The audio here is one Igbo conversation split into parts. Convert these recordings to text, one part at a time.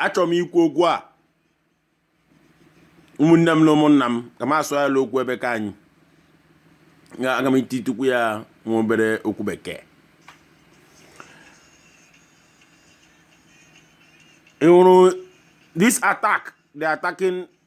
achọrọ m ikwu okwu a ụmụnne m na ụmụnna m ka m asụ ya okwu ebe ka anyị Nga- aga m ititukwu ya nwa obere okwu bekee ị hụrụ this attack they attacking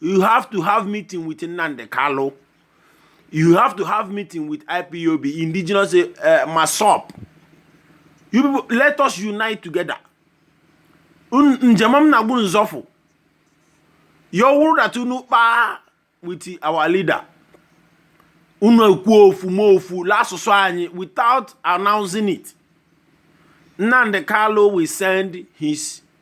you have to have meeting with Nnamdi Kanu you have to have meeting with IPOB indigenous uh, eh, MASSOB you people let us unite together njem m na-agwa unu zọfụ ya wụrụ that unu kpaa with our leader unu ekwuo ofu ma ofu n'asụsụ anyị without announcing it Nnamdi Kanu will send his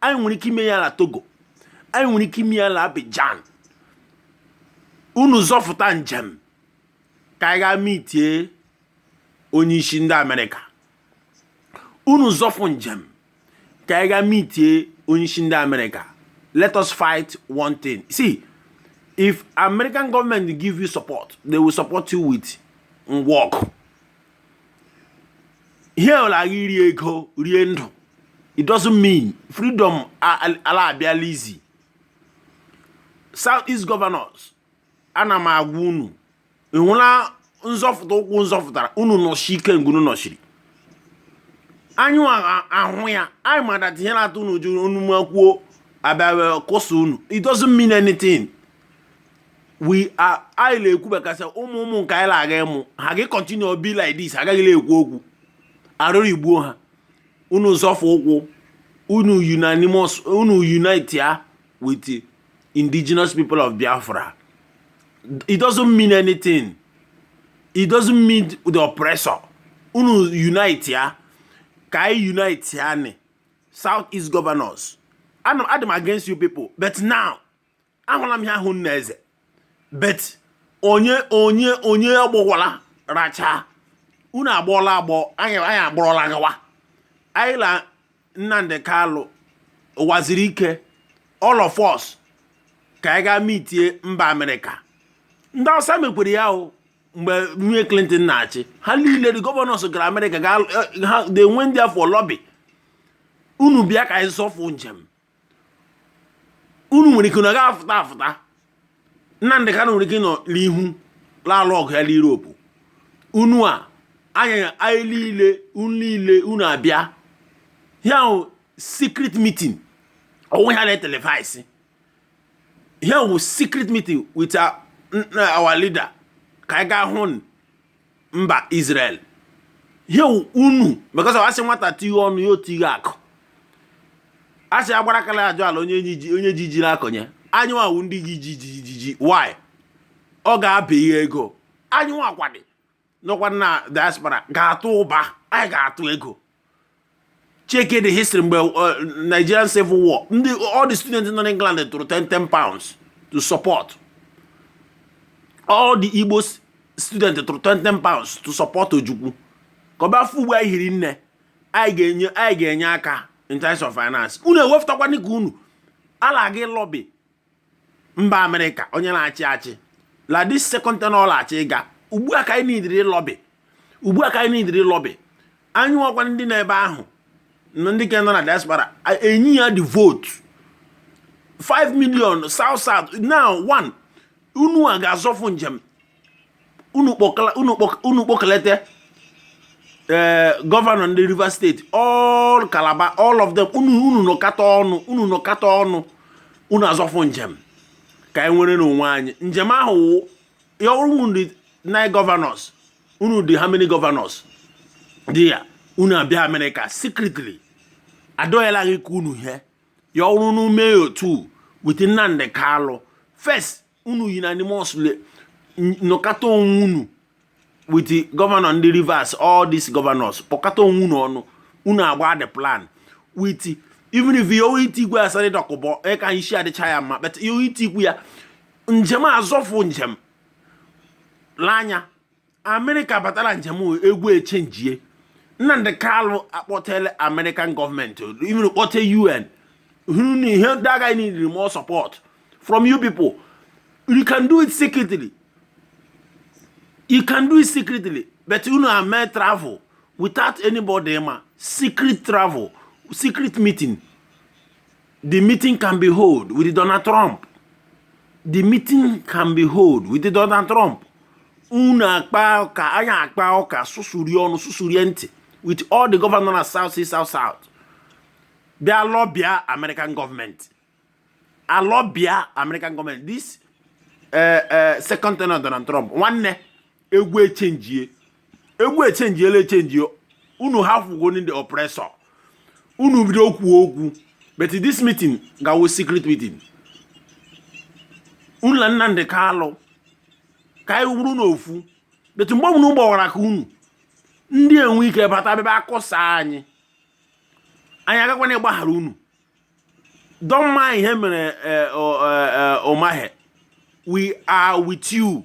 anyị nwere ike ime ya na togo anyị nwere ike ime ya na abijan unu zọfụta njem ka anyị gaa mitie onye isi ndị amerịka unu zọfụ njem ka anyị gaa mitie onye isi ndị amerịka let us fight one thing see if american government give you support they will support you with ngwa ọgụ ihe ọla agha iri ego rie ndụ it doesn't mean freedom ala abịala easy south east governors ana m agwa unu ị hụla nzọfụta ụkwụ nzọfụtara unu nọshie ike nga unu nọshiri anyị ahụ ya anyị ma that ihe na-atụ unu ụjọ unu makwuo abịa kụsa unu it doesn't mean anything we are anyị na-ekwu makasị ụmụ ụmụ nke anyị na-aga ịmụ ha ga continue be like this agaghị na-ekwu okwu arụrụ igbuo ha unu zọfụ ụkwụ unu unanimous unu unite ya with the indigenous people of Biafra it doesn't mean anything it doesn't mean the oppressor unu unite ya ka anyị unite ya ni south east governors I'm, I'm against you people but now ahụla m ya ahụ nna eze but onye onye onye agbọwala racha unu agbọọla agbọ anyị anyị agbọrọla gawa anyị na nnamdị kanụ Uwazuruike all of us ka anyị gaa mitie mba amerịka ndị awụsa mekwere ya o mgbe nwunye clinton na-achị ha niile the governors gara amerịka ga ha they went there for lobby unu bịa ka anyị zọfụ njem unu nwere ike na ga-afụta afụta Nnamdị Kanụ nwere ike nọ n'ihu la-alụ ọgụ ya n'Europe unu a anyị anyị niile unu niile unu abịa ya wụ secret meeting ọ wụghị a na-etelevaịsị ya wụ secret meeting with our leader ka anyị gaa hụ mba Israel ihe unu because asị nwata tighe ọnụ ya otighe akụ asị agbara aka la-azọ ala onye ji ji na-akọnye anyị nwa wụ ndị ji ji ji ji ji why ọ ga-abụ ihe ego anyị nwakwa ndị nọkwa na diaspora ga-atụ ụba anyị ga-atụ ego cheke the history mgbe uh, Nigerian civil war ndị all the students nọ n'England tụrụ 10 10 pounds to support all the Igbo students tụrụ 10 10 pounds to support Ojukwu ka ọ bịa fụ ugbu a anyị hiri nne anyị ga-enye anyị ga-enye aka in terms of finance unu ewefụtakwa nke unu alaga lobby mba amerịka onye na-achị achị la this second tenure ọ la-achịga ugbu a ka anyị nidiri lobby ugbu a ka anyị nidiri lobby anyị nwakwa ndị nọ ebe ahụ na ndị ka nọ na diaspora enye ya the vote 5 million south south now one unu nwa ga-azọfụ njem unu kpọkalete ee eh, governor ndị Rivers State all Calabar all of them unu unu nọkọta ọnụ unu nọkọta ọnụ unu azọfụ njem ka anyị nwere n'onwe anyị njem ahụ wụ ya unu dị nine governors unu dị how many governors dị ya unu abịa Amerịka secretly adọghịla gị ka unu ihe ya wụrụ unu mee otu with Nnamdi Kanu first unu unanimously nọkọta onwe unu with governor ndị Rivers all these governors kpọkọta onwe unu ọnụ unu agba the plan with even if ọ wụ itigwe Asari Dokubo ịka isi adịcha ya mma but ọ wụ itigwe ya njem azọfụ njem lee anya amerịka batala njem egwu echenjie Nnamdi Kanu akpọtele American government even kpọte UN that guy need more support from you people you can do it secretly you can do it secretly but unu ame travel without anybody ma secret travel secret meeting The meeting can be hold with Donald Trump. The meeting can be hold with Donald Trump. Unu akpa ụka, anyị akpa ụka, susurie ọnụ, susurie ntị with all the governor na South East, South South. Bịa lọbịa American government. Alọbịa American government. This uh, uh, second tenure Donald Trump, nwanne egwu echenjie. egwu echenjiela echenji unu ahụgo ndị oppressor unu bido okwu okwu but this meeting ga-awụ secret meeting unu na Nnamdi Kanu ka anyị wụrụ n'ofu but mgbe ọbụla unu gbawara aka unu ndị enwe ike bata bebe akọsa anyị anyị agakwana ịgbaghara unu don't mind ihe mere eh, eh, eh, Umahi we are with you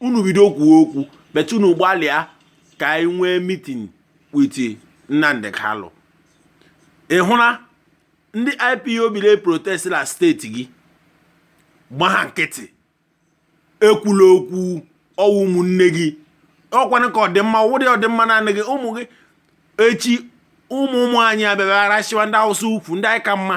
unu bido kwuo okwu but unu gbalịa ka e nwee meeting with Nnamdi Kanu ị hụla ndị IPOB na-eprotest na state gị gba ha nkịtị ekwula okwu ọ wụ ụmụnne gị ọkwanụ ka ọdịmma ụdị ọdịmma naanị gị ụmụ gị echi ụmụ ụmụ anyị abịara arasịwa ndị Awụsa ukwu ndị anyị ka mma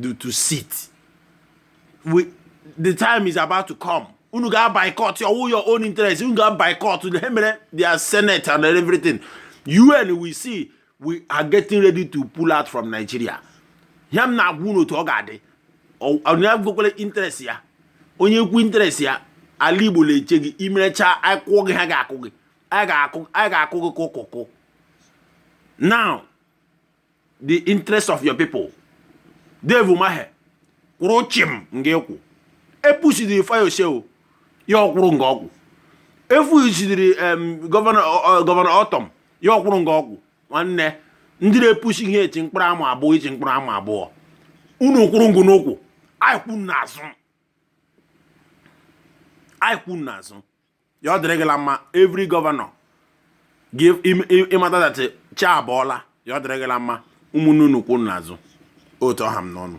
do to sit the time is about to come unu ga boycott ọ wụ your own interest unu ga boycott ha mere their senate and everything UN will see we are getting ready to pull out from Nigeria ya m na-agwa unu otu ọ ga-adị onye interest ya onye kwu interest ya ala Igbo na-eche gị i merecha akwụkwọ gị ha ga-akụ gị a ga-akụ gị kụkụkụ now the interest of your people Dave Umahi kwụrụ chim nga ị kwụ epusidiri Fayose o ya ọ kwụrụ nga ọ kwụ efusidiri Governor Ortom ya ọ kwụrụ nga ọ kwụ nwanne ndị na-epusi ihe echi mkpụrụ ama abụọ ichi mkpụrụ ama abụọ unu kwụrụ nga unu kwụ anyị kwụ unu n'azụ anyị kwụ unu n'azụ ya ọ dịrị gị la mma every governor ga ịmata that chi abọọla ya ọ dịrị gị la mma ụmụnne unu kwụ n'azụ otu ọ ha m n'ọnụ